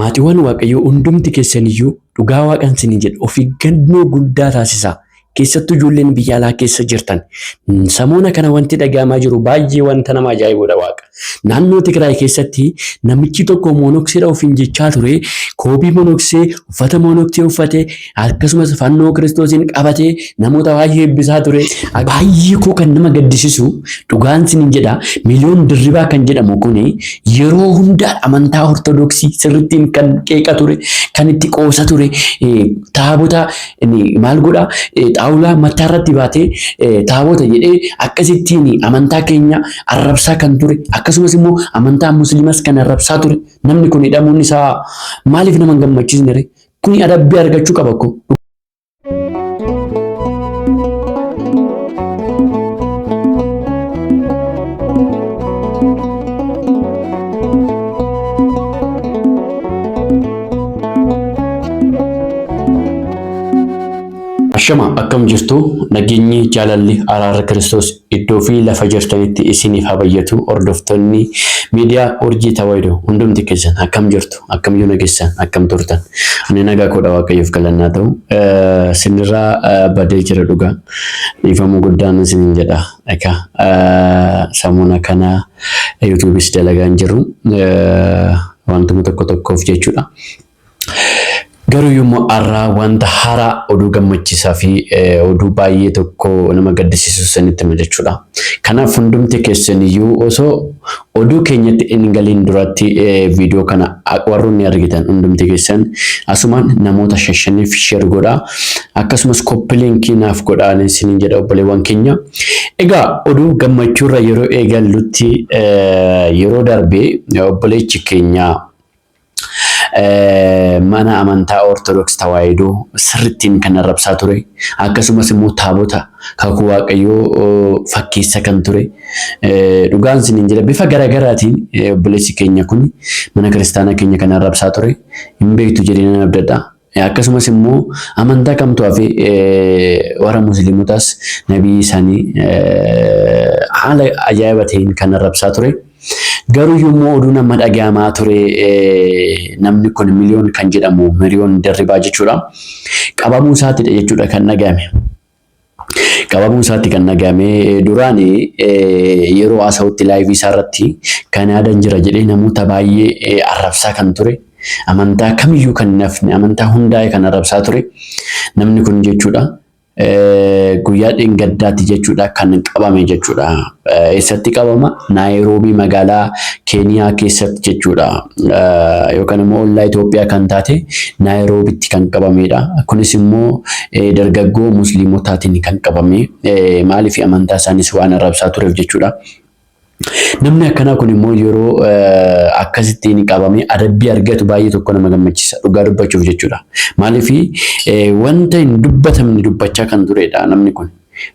Maatiwwaan Waaqayyoo hundumti keessan iyyuu dhugaa Waaqan isiniin jedha of eeggannoo guddaa taasisaa. Keessattuu ijoolleen biyya alaa keessa jirtan samoona kana wanti dhaga'amaa jiru baay'ee wanta nama ajaa'ibuudha Waaqa. Naannoo Tigraay keessatti namichi tokko moonokseedha ofiin jechaa ture koobii monoksee uffata monoksee uffate akkasumas fannoo kiristoosiin qabatee namoota baay'ee eebbisaa ture. Baay'ee koo kan nama gaddisisu dhugaan sinin jedha miliyoon dirribaa kan jedhamu kun yeroo hunda amantaa ortodoksii sirrittiin kan qeeqa ture kan itti qoosa ture taabota maal godha xaawulaa mataa irratti baatee taabota jedhee akkasittiin amantaa keenya arrabsaa kan ture akkasumas immoo amantaa musliimas kan arrabsaa ture namni kun hidhamuun isaa maaliif nama hin gammachiisne Kuni adabbii argachuu qaba ko. Shama akkam jirtu nageenyi jaalalli araara Kiristoos Iddoo fi lafa jirtanitti isiinif ha bayyatu ordoftonni media urjii tawahido hundumti keessan akkam jirtu akkam yoo nagessan akkam turtan ani nagaa koodha waaqayyoof galanni haa ta'u sinirraa badee jira dhugaa dhiifama guddaan isinin jedha eka samuna kana yuutuubis dalagaan jiru wantuma tokko tokkoof jechuudha Garuu yommuu arraa wanta haaraa oduu gammachiisaa fi oduu baay'ee tokko nama gaddisiisu isinitti hima jechuudha. Kanaaf hundumti keessan iyyuu osoo oduu keenyatti hin galiin duratti viidiyoo kana warroonni argitan hundumti keessan asumaan namoota shan shaniif sheer godhaa akkasumas koppi liinkii naaf godhaan isiniin jedha obboleewwan keenya. Egaa oduu gammachuurra yeroo eegallutti yeroo darbe obboleechi keenya mana amantaa Ortodoks Tawaahidoo sirrittiin kan arrabsaa ture. Akkasumas immoo taabota kakuu waaqayyoo fakkeessa kan ture. Dhugaan siniin jedha bifa garaagaraatiin obboleessi keenya kun mana kiristaanaa keenya kan arrabsaa ture. Hin beektu jedhee nan abdadha. Akkasumas immoo amantaa kamtu hafe warra musliimotaas nabii isaanii haala ajaa'iba ta'een kan arrabsaa ture. Garuu yommuu oduun amma dhagahamaa ture namni kun miliyoon kan jedhamu miliyoon dirribaa jechuudha. Qabamuu isaatidha jechuudha kan dhagahame. Qabamuu isaatti kan dhagahame duraan yeroo haasa'utti laayivii isaa irratti Kanaadan jira jedhee namoota baay'ee arrabsaa kan ture amantaa kamiyyuu kan hin hafne amantaa hundaa'e kan arrabsaa ture namni kun jechuudha guyyaa dheengaddaatti jechuudha kan qabame jechuudha. Eessatti qabama? Naayiroobii magaalaa Keeniyaa keessatti jechuudha. Yookaan immoo ollaa Itoophiyaa kan taate Naayiroobitti kan qabameedha. Kunis immoo dargaggoo musliimotaatiin kan qabame maaliif amantaa isaanis waan arrabsaa tureef jechuudha. Namni akkanaa kun immoo yeroo akkasitti ni qabame adabbii argatu baay'ee tokko nama gammachiisa dhugaa dubbachuuf jechuudha. Maaliif wanta hin dubbatamne dubbachaa kan turedha namni kun.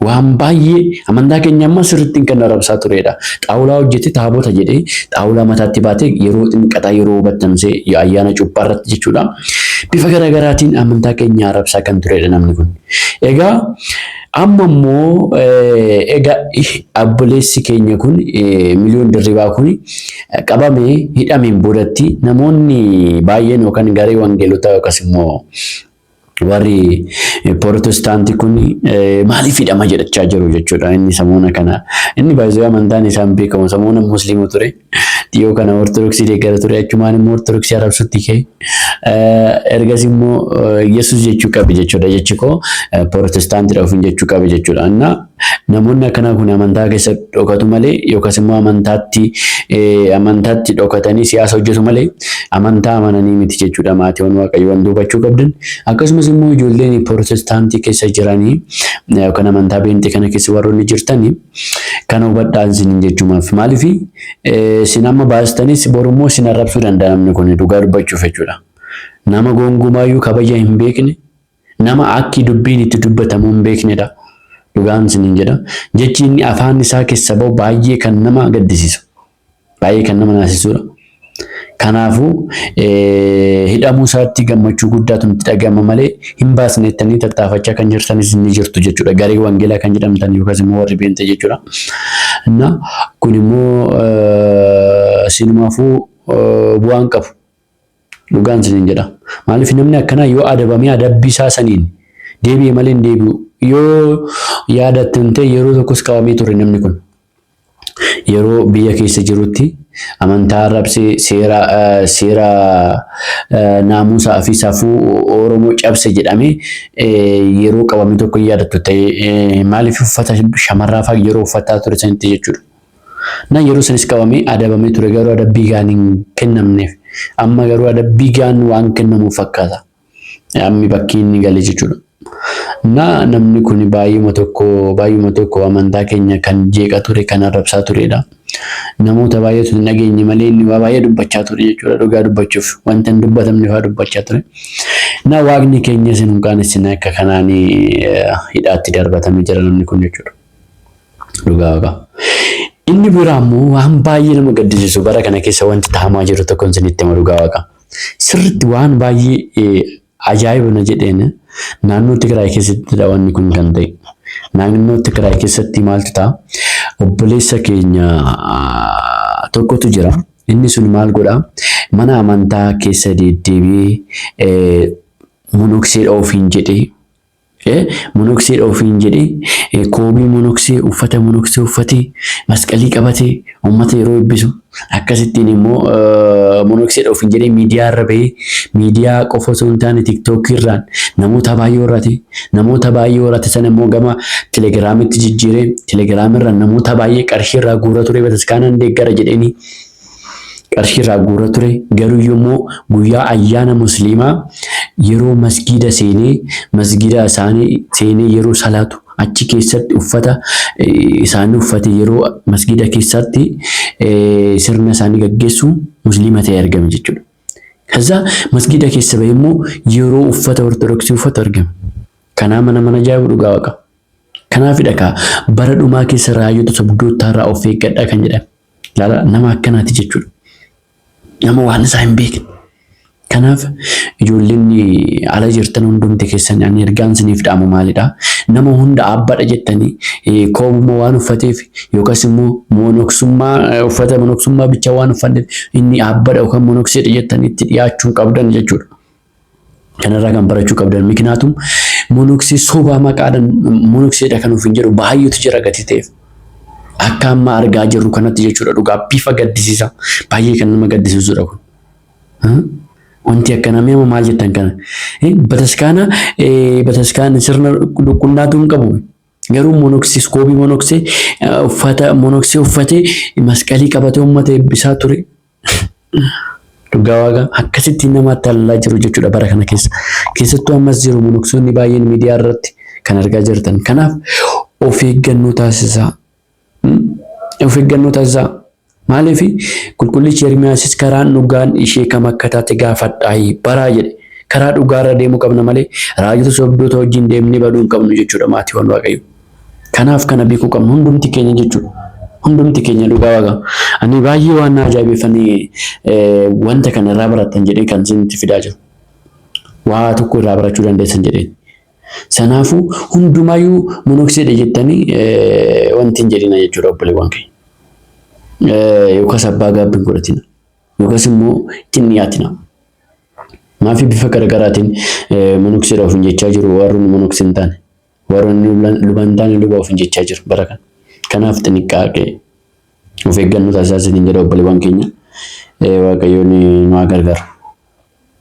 Waan baay'ee amantaa keenya amma sirriitti kan arrabsaa turedha. Xaawulaa hojjetee taabota jedhee xaawulaa mataatti baatee yeroo xinqataa yeroo battamsee ayyaana cuuphaa irratti jechuudha. Bifa garaagaraatiin amantaa keenya arrabsaa kan turedha namni kun. Egaa amma immoo egaa abboleessi keenya kun miliyoon dirribaa kun qabamee hidhameen boodatti namoonni baay'een yookaan garee wangeelotaa yookaas immoo warri Pirootestaantii kun maaliif hidhama jedhachaa jiru jechuudha inni samoona kana. Inni baay'ee amantaan isaan beekamu samoona musliima ture. Dhiyoo kana Ortodoksii deeggara ture achumaan immoo Ortodoksii arrabsutti ka'e. Ergas immoo Yesuus jechuu qabe jechuudha jechi koo Pirootestaantiidha ofiin jechuu qabe jechuudha. Innaa Namoonni akkanaa kun amantaa keessa dhokatu malee yookas immoo amantaatti amantaatti dhokatanii siyaasa hojjetu malee amantaa amananii miti jechuudha maatiiwwan waaqayyo wanti hubachuu qabdan akkasumas immoo ijoolleen pirootestaantii keessa jiranii yookaan amantaa beenxii kana keessa warroonni jirtanii kana hubadhaan sinin jechuumaaf maaliif sin amma baastanis borummoo sin arrabsuu danda'a namni kun dhugaa dubbachuuf jechuudha nama goongumaayyuu kabaja hin beekne Nama akki dubbiin itti dubbatamuu hin beeknedha. Dhugaan isiniin jedha. Jechi inni afaan isaa kessa ba'u baay'ee kan nama gaddisiisu. Baay'ee kan nama naasisuudha. Kanaafuu hidhamuu isaatti gammachuu guddaatu nutti dhaga'ama malee hin baasne jettanii tattaafachaa kan jirtanis ni jirtu jechuudha. Garee wangeelaa kan jedhamtan yookaas immoo warri beentee jechuudha. Na kun immoo sinumaafuu bu'aan qabu. Dhugaan isiniin jedha. Maaliif namni akkanaa yoo adabamee adabbii isaa saniin deebi'e malee hin deebi'u. Yoo yaadattan ta'e yeroo tokkos qabamee ture namni kun. Yeroo biyya keessa jirutti amantaa arrabsee seera seera naamusaa fi safuu Oromoo cabse jedhamee yeroo qabame tokko hin yaadattu ta'e maaliif uffata shamarraa fa'aa yeroo uffataa ture sanitti jechuudha. Na yeroo sanis qabamee adabamee ture garuu adabbii gahaan hin kennamneef. Amma garuu adabbii gahaan waan kennamuuf fakkaata ammi bakkii inni gale jechuudha. Na namni kuni baay'uma tokko baay'uma tokko amantaa keenya kan jeeqa ture kan arrabsaa tureedha. Namoota baay'eetu hin dhageenye malee inni waa baay'ee dubbachaa ture jechuudha dhugaa dubbachuuf wanta hin dubbatamne fa'aa dubbachaa ture. Na waaqni keenyas hin qaanessine akka kanaan hidhaatti darbatame jira namni kun jechuudha. Dhugaa waaqaa. Inni biraa immoo waan baay'ee nama gaddisiisu bara kana keessa wanti tahamaa jiru tokko isinitti hima dhugaa waaqaa. Sirriitti waan baay'ee ajaa'iba na jedheen naannoo Tigraay keessattidha wanni kun kan ta'e. Naannoo Tigraay keessatti maaltu ta'a? Obboleessa keenya tokkotu jira. Inni sun maal godha? Mana amantaa keessa deddeebi'ee monokseedha ofiin jedhee e Monoksee dha ofiin jedhee e Koobii monoksee, uffata monoksee uffatee, masqalii qabatee uummata yeroo eebbisu, akkasittiin immoo monoksee dha ofiin jedhee miidiyaa irra bahee, miidiyaa qofa osoo hin taane TikTok irraan namoota baay'ee horate. Namoota baay'ee horate sana immoo gama Telegiraamitti jijjiiree, Telegiraam irraan namoota baay'ee qarshii irraa guura ture bataskaanaan deeggara jedheenii. Qarshii irraa guura ture, garuu yommoo guyyaa ayyaana musliimaa yeroo masgiida seenee masgiida isaani seenee yeroo salaatu achi keessatti uffata isaani uffate yeroo masgiida keessaatti sirna isaani gaggeessu musliima ta'ee argame jechuudha. Kaza masgiida keessa ba'ee immoo yeroo uffata ortodoksii uffatu argame. Kanaa mana mana jaabu dhugaa waqa. Kanaafidha kaa bara dhumaa keessa raayyoota sobdoottaa irraa of eeggadhaa kan jedhame. Laala nama akkanaati jechuudha. Nama waan isaa hin beekne. Kanaaf ijoolleen ala jirtan hundumti keessan ani ergaan isiniif dhaamu maalidha? Nama hunda abbadha jettanii eh, koobuma waan uffateef yookas immoo monoksummaa eh, uffata monoksummaa bicha waan uffanneef inni abbadha yookaan monokseedha jettanii itti dhiyaachuu hin qabdan jechuudha. Kanarraa kan barachuu qabdan miknaatum monoksee sobaa maqaadhaan monokseedha kan ofiin jedhu baay'eetu jira gatii ta'eef. Akka amma argaa jirru kanatti jechuudha dhugaa bifa gaddisiisa baay'ee kan nama gaddisiisudha kun. Wanti akkana mee maal jettan kana bataskaana bataskaana sirna qulqullaatuu hin qabu. Garuu monoksee iskoobii monoksee uffata monoksee uffatee masqalii qabatee uummata eebbisaa ture. Dhugaa waaqa akkasitti nama tallaa jiru jechuudha bara kana keessa. Keessattuu ammas jiru monoksoonni baay'een miidiyaa irratti kan argaa jirtan. Kanaaf of eeggannoo taasisaa. Of eeggannoo taasisaa. Maaliif qulqullichi Ermiyaasis karaan dhugaan ishee kam akka taate gaafadhaa baraa jedhe. Karaa dhugaarra deemuu qabna malee raajota sobdoota wajjin deemnee baduu hin qabnu jechuudha maatiiwwan Waaqayyoo. Kanaaf kana beekuu qabna hundumti keenya jechuudha. Hundumti keenya dhugaa waaqa. Ani baay'ee waan na ajaa'ibeeffanii wanta kana irraa barattan jedhee kan isinitti fidaa jiru. Waa tokko irraa barachuu dandeessan jedheen. Sanaafuu hundumaayyuu monokseedha jettanii wanti hin jedhina jechuudha obboleewwan keenya. Yookaas abbaa gaabbii hin godhatina. Yookaas immoo itti hin dhiyaatina. Maafi bifa garaagaraatiin monokseedha ofiin jechaa jiru warri monokse hin taane. Warroonni luban taane luba ofiin jechaa jiru bara kana. Kanaaf xinniqqaaqee of eeggannoo taasisaa isiniin jedha obboleewwan keenya. Waaqayyoon nu haa gargaaru.